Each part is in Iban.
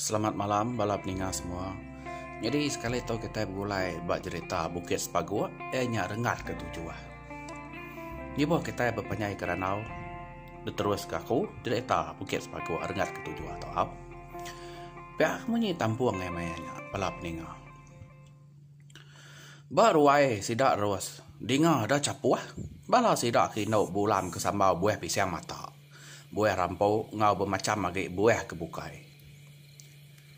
Selamat malam bala peninga semua. Nyadi sekali tu kitai begulai ba jerita Bukit Sepaguk iya nya renggat ke tujuh. Nyubuh kitai bepanjai ke randau diterus ke aku jerita Bukit Sepaguk renggat ke tujuh tu au. Pia ke munyi tampung iya maya nya bala peninga. Ba ruai sida ros dinga ada chapuh bala sida ke indu bulan ke sambau buah pisang matak. buah rampu enggau bemacham agi buah ke bukai.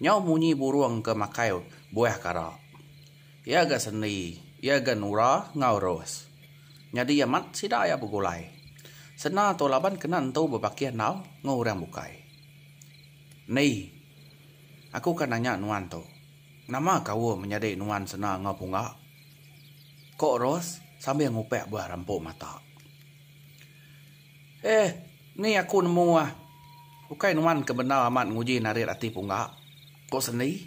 Nyau munyi burung ke makai buah kara. Iya ga sendi, iya ga nura enggau ros. Nyadi amat sida iya begulai. Sena tu laban kena entu bebakih endau enggau orang bukai. Ni, aku ka nanya nuan tu, nama kaul menyadi nuan sena enggau punga? Ko Ros sambil ngupak buah rampu mata. Eh, ni aku nemu ah. Ukai nuan ke bendar amat nguji narit ati pungga, ko Sendi.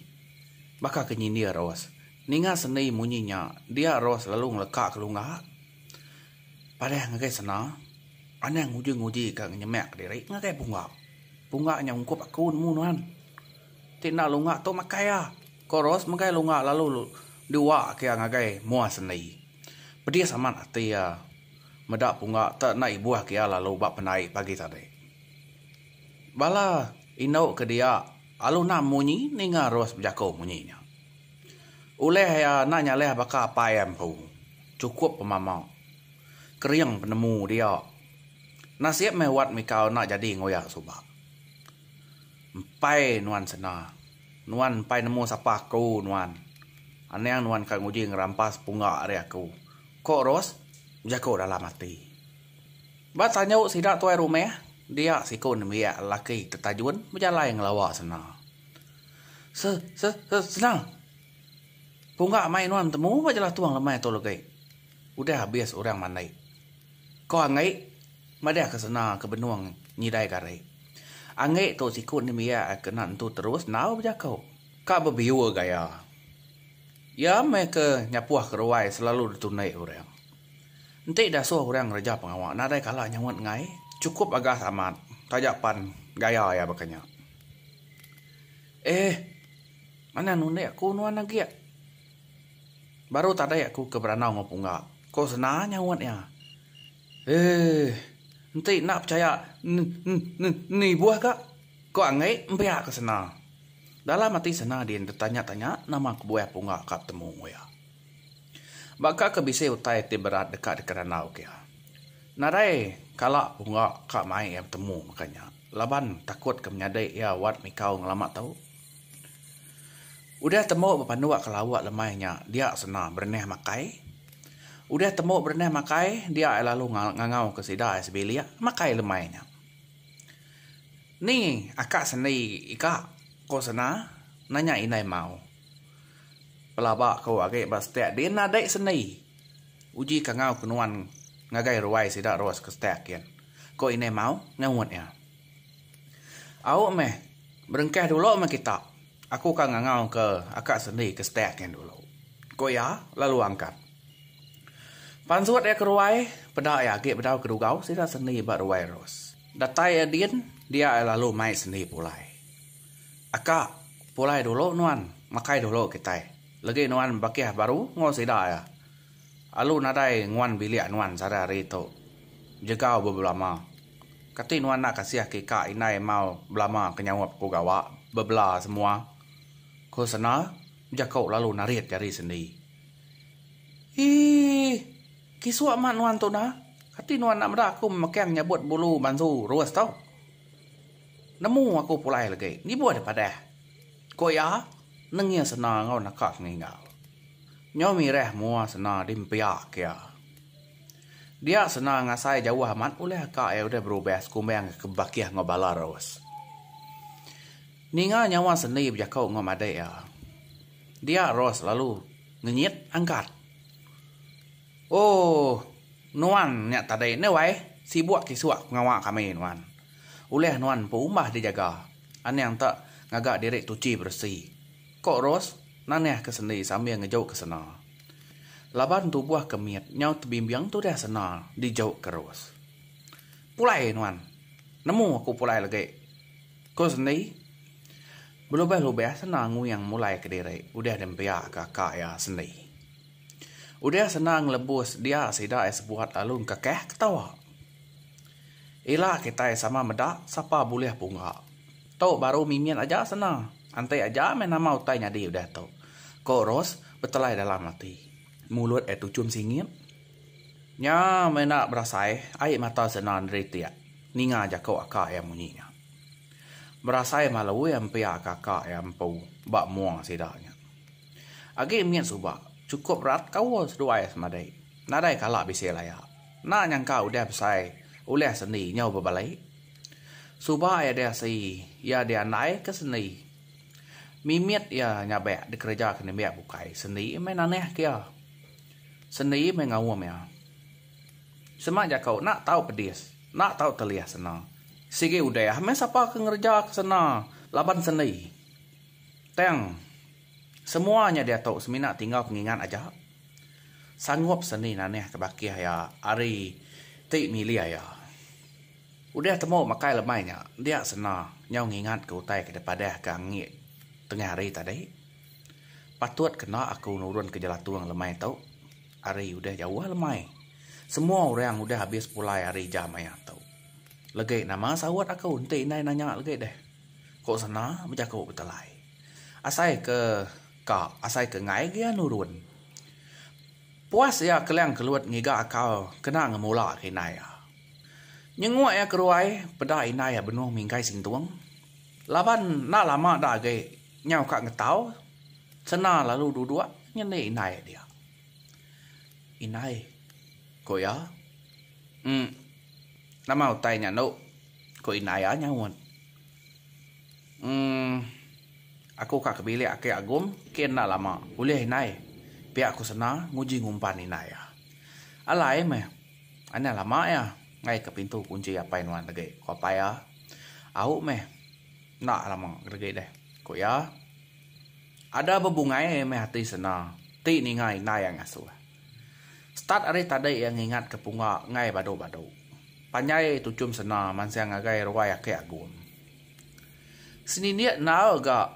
Baka ke nyindir Ros. Ninga Sendi munyi nya, dia Ros lalu ngeleka ke lungga. Padah ngagai sena, anang nguji-nguji ka ngenyemak diri ngagai pungga. Pungga nya ungkup aku nemu nuan. Ti enda lungga tu makai iya, ko Ros megai lungga lalu diuak ke iya ngagai mua Sendi. Pedis amat ati iya. meda punga te enda ibuh ke iya lalu ba penai pagi tadi. Bala indu ke dia alu enda munyi ninga Ros bejaku munyi nya. Ulih iya enda nyalih baka apai iya empu, chukup pemama. Kering penemu dia. Nasib meh wat Mikau enda jadi enggau iya suba. Empai nuan sena. Nuan empai nemu sapa aku nuan. Anang nuan ka nguji ngerampas punga ari aku. Ko Ros jaku dalam ati. Ba tanyu sida tuai rumah, dia siku nembiak lelaki tetajun bejalai ngelawa Sena. Se, se, se, Sena! Pungga mai nuan temu ba Jelah Tung lemai tu legi. Udah abis orang mandi. Ko Anggi madahka Sena ke benung nyidai gari. Anggi tu siku nembiak ke kena entu terus enggau bejaku. Ka bebiur gaya. Iya meh ke nyapuh keruai selalu ditundi orang. Enti dasuh orang ngereja pengawa nadai kala nyaunt enggai, chukup agas amat taja pan gaya iya baka nya. Eeh. Manah nundi aku nuan agi. Baru tadi aku ke berandau enggau pungga, ko sena nyaunt iya. Eeh. Enti enda pechaya ne-ne-ne-ne ibuh ka, ko anggai empiak ke sena. Dalam ati sena din tetanya-tanya nama kebuah pungga ka betemu enggau iya. Baka ke bisi utai ti berat deka dikerandau ke iya. Nadai kala pungga ka mai iya betemu mega nya laban takut ke menyadi iya wat mikau ngelama tu. Udah tembu bepanuk ke lauk lemai nya dia sena berenah makai. Udah tembu berenah makai dia ia lalu ngangau ke sida ia sebilik makai lemai nya. Ni aka sendi ika ko sena nanya indai mau. Pelaba ko agi ba stek din nadai sendi uji kangau ke nuan ngagai ruai sida rus ke stek kin ko indai mau ngaut ia. Au meh, berengkah dulu meh kita. Aku ka ngangau ke aka sendi ke stek nyin dulu, ku iya lalu angkat. Pansut iya ke ruai, peda iya agi bedau ke dugau sida sendi ba ruai Ros. Datai iya din, dia iya lalu mai sendi pulai. Aka, pulai dulu nuan, makai dulu kitai. Legi nuan bakih baru enggau sida iya. Alu nadai nguan bilik nuan sada hari tu. Jegau ba belama. Kati nuan enda kasih ke ika indai mau belama ke nyaup ku gawa bebela semua? ku Sena jaku lalu narit jari sendi. Iih. Kisu amat nuan tu nah. Kati nuan enda meda aku memekang nyabut bulu bansu rus tu? Nemu aku pulai lagi. Nibuh deh padah. Ku iya, nengih sena enggau naka peninggal. Nyau mirih mua sena dimpiak iya. Dia sena ngasai jauh amat ulih aka iya udah berubah sekumbang ke Bakih enggau Balarus. Ninga nyawa sendi bejaku enggau madik iya, dia Ros lalu ngenyit angkat. Ooh, nuan nya tadi endai wai sibuk kisuk pengawa kami nuan. Ulih nuan empu umbah dijaga. Anang ta ngaga diri tuchi beresi, ko Ros nanah ke sendi sambil ngejuk ke sena. Laban tubuh ke mit nyau tebimbing tu dah sena dijuk ke Ros. Pulai nuan, nemu aku pulai legi, ko sendi. Belubah-lubah sena nguing mulai ke diri udah diempiak ke aka iya sendi. Udah senang lebus dia sida ai sebuat lalu engkakah ketawa. Ila kitai sama meda sapa bulih pungga. Tu baru mimit aja senang. Enti aja meh nama utai nyadi udah tu, ko Ros betelai dalam ati. Mulut ai tuchum singit. Nya meh enda berasai ai mata sena neri tiak ninga jaku aka iya munyi nya. Berasai malu iya empiak ka aka iya empu ba mung sida nya. Agi mit suba, chukup rat kaul seduai semadai. Nadai kala bisi laya. Enda nyangka udah besai ulih sendi nyau bebalai. Suba iya deh asi iya diandai ke sendi. Mimit iya nyabek dikereja ke nembiak bukai sendi meh nanah ke iya. Sendi meh ngaum iya. Sema jaku enda tau pedis, enda tau telih sena. Sigi udah meh sapa ke ngereja ke sena laban sendi. Tang semua nya diatu semina tingau pengingat aja. Sanggup seni nanahka bakih iya ari ti milih iya. Udah temu makai lemai nya dia sena nyau ngingatka utai ke dipadahka angi tengah hari tadi. Patut kena aku nurunka jelatung lemai tu. Hari udah jauh lemai. Semua orang udah abis pulai hari jam aya tu. Legi nama saut aku enti indai nanya legi deh. Ko sena bejaku betelai. Asai ke ka asai ke enggai gia nurun. Puas iya kelang kelut ngiga akal kena ngemula ke indai iya. Nyenguk iya keruai peda indai iya benung minggai sintung. Laban enda lama da agi nyau ka ngetau sena lalu duduk nyendi indai dia. Indai, ko iya. Em. Nama utai nya enu? ku indai iya nyaut. Em. Aku ka ke bilik aki Agum ke enda lama. Ulih indai. Pia aku sena nguji ngumpan indai iya. Alai meh. Anang lama iya ngaika pintu kunchi apai nuan agi, ku apai iya. Au meh. Enda lama agi deh, ku iya. Ada bebungai meh ati sena ti ninga indai iya ngasuh. Start ari tadi iya ngingat ke punga ngai badu badu. Panjai tuchum sena mansang ngagai ruai ake agum. Senindik endaur ga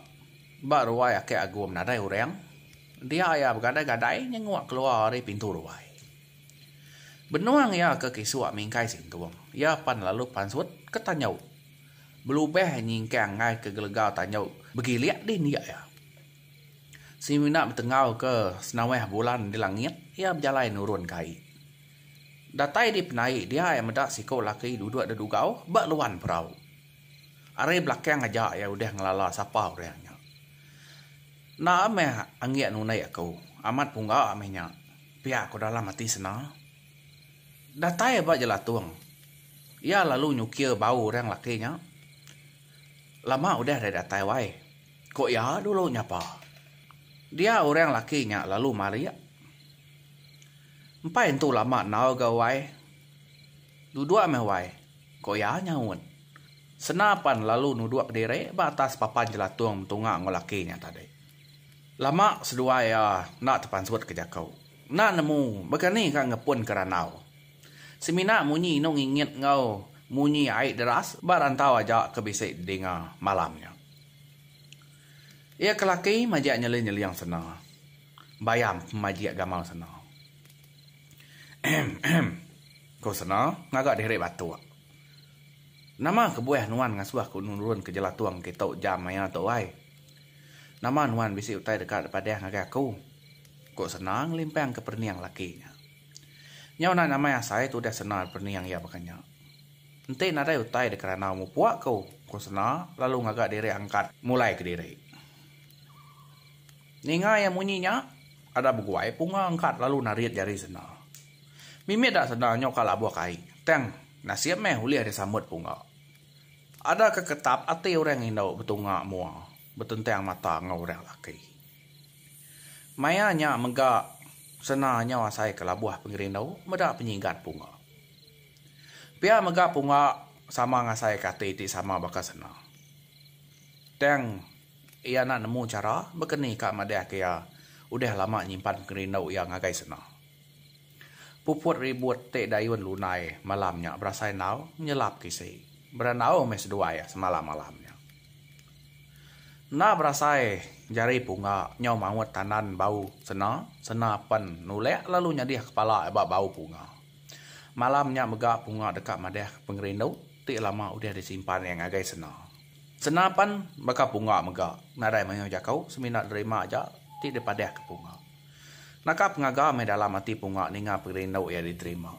ba ruai ake agum nadai urang. Dia iya begadai gadai nyenguk keluar ari pintu ruai. Benung iya ke kisuk mingkai sintung. Iya pan lalu pansut ke tanyu. Belubah nyingkang ngai ke gelegau tanyu begilik dih indik iya. Semina betenggau ke senaweh bulan di langit, iya bejalai nurun ke ai. Datai di penai dia iya meda siko laki duduk di dugau ba luan perau. Ari belakang aja iya udah ngelala sapa orang nya. Enda meh anggik nunde aku, amat pungga meh nya, pia ku dalam ati Sena. Datai ba jelatung, iya lalu nyukir bau orang laki nya. Lama udah deh datai wai. Ko iya dulu nyapa. Dia orang laki nya lalu marik. Empai entu lama enau ga wai. Duduk meh wai, ko iya nyaut. Sena pan lalu nuduk diri ba atas papan jelatung betunga enggau laki nya tadi. Lama seduai iya enda tepansut ke jaku. Enda nemu mega ni ka ngepun ke randau. Semina munyi inu ngingit enggau munyi ai deras ba rantau aja ke bisi didinga malam nya. Iya ke laki majak nyeli nyeling sena. Bayam majak gamal sena. Ehem ehem ko sena ngaga diri batuk. Nama kebuah nuan ngasuh aku nurun ke jelatung kitu jam maya tu ai. Nama nuan bisi utai deka dipadah ngagai aku. Ko sena ngelimpang ke perening laki nya. Nyau enda nyamai asai tudah sena perening iya baka nya. Enti nadai utai deka randau mupuk aku, ku Sena lalu ngaga diri angkat mulai kediri. Ninga iya munyi nya, Ada Beguai punga angkat lalu narit jari Sena. Mimit da Sena nyoka labuh ke ai, tang nasib meh ulih disambut punga. Ada ke ketap ati orang indu betunga mua betentang mata enggau orang laki. Maya nya mega Sena nyau asai ke labuh pengerindu meda penyigat punga. Pia mega punga sama ngasaika ati ti sama baka sena. Tang iya enda nemu chara bekeni ka madahka iya udah lama nyimpan pengerindu iya ngagai sena. Puput ribut ti dayun lunai malam nya berasai enggau menyelap ke isi berandau meh seduai semalam malam nya. Enda berasai jari punga nyau maut tandan bau sena, sena pen nulak lalu nyadih kepala ba bau punga. Malam nya mega Punga deka madahka pengerindu ti lama udah disimpan iya ngagai Sena. Sena pan baka Punga mega nadai mayuh jaku semina nerima aja ti dipadahka Punga. Naka pengaga meh dalam ati Punga ninga pengerindu iya diterima.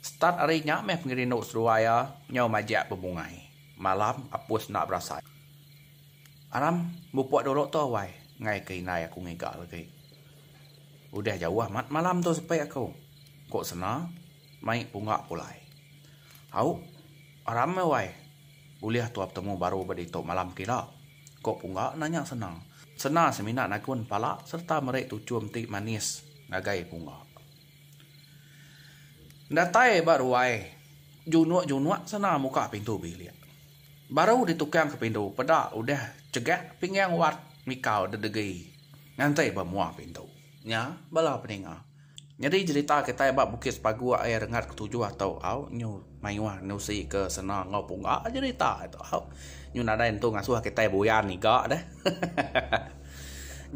Start ari nya meh pengerindu seduai iya nyau majak bebungai. Malam Apus enda berasai. Aram, mupuk dulu tu awai ngaika indai aku ngiga lagi. Udah jauh amat malam tu sepi aku. Ko Sena mai pungga pulai. Au, rama wai ulih tua petemu baru ba ditu malam kira? ko pungga nanya Sena. Sena semina nagun pala sereta meri tuchum ti manis ngagai pungga. Datai ba ruai, junuk-junuk Sena muka pintu bilik. Baru ditukang ke pintu peda udah chegak pinggang Wat mikau dedegi nganti ba mua pintu. Nya bala peninga. Nyadi jerita kitai ba Bukit Sepagu ai rengat ketujuh atau au nyu mayuh nusi ke sena enggau punga jerita tu au nyu nadai entu ngasuh kitai buyan iga deh.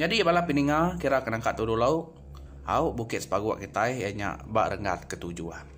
Nyadi bala pininga kira ke nangka tudu lou au Bukit Sepagu kitai iya nya ba rengat ketujuh.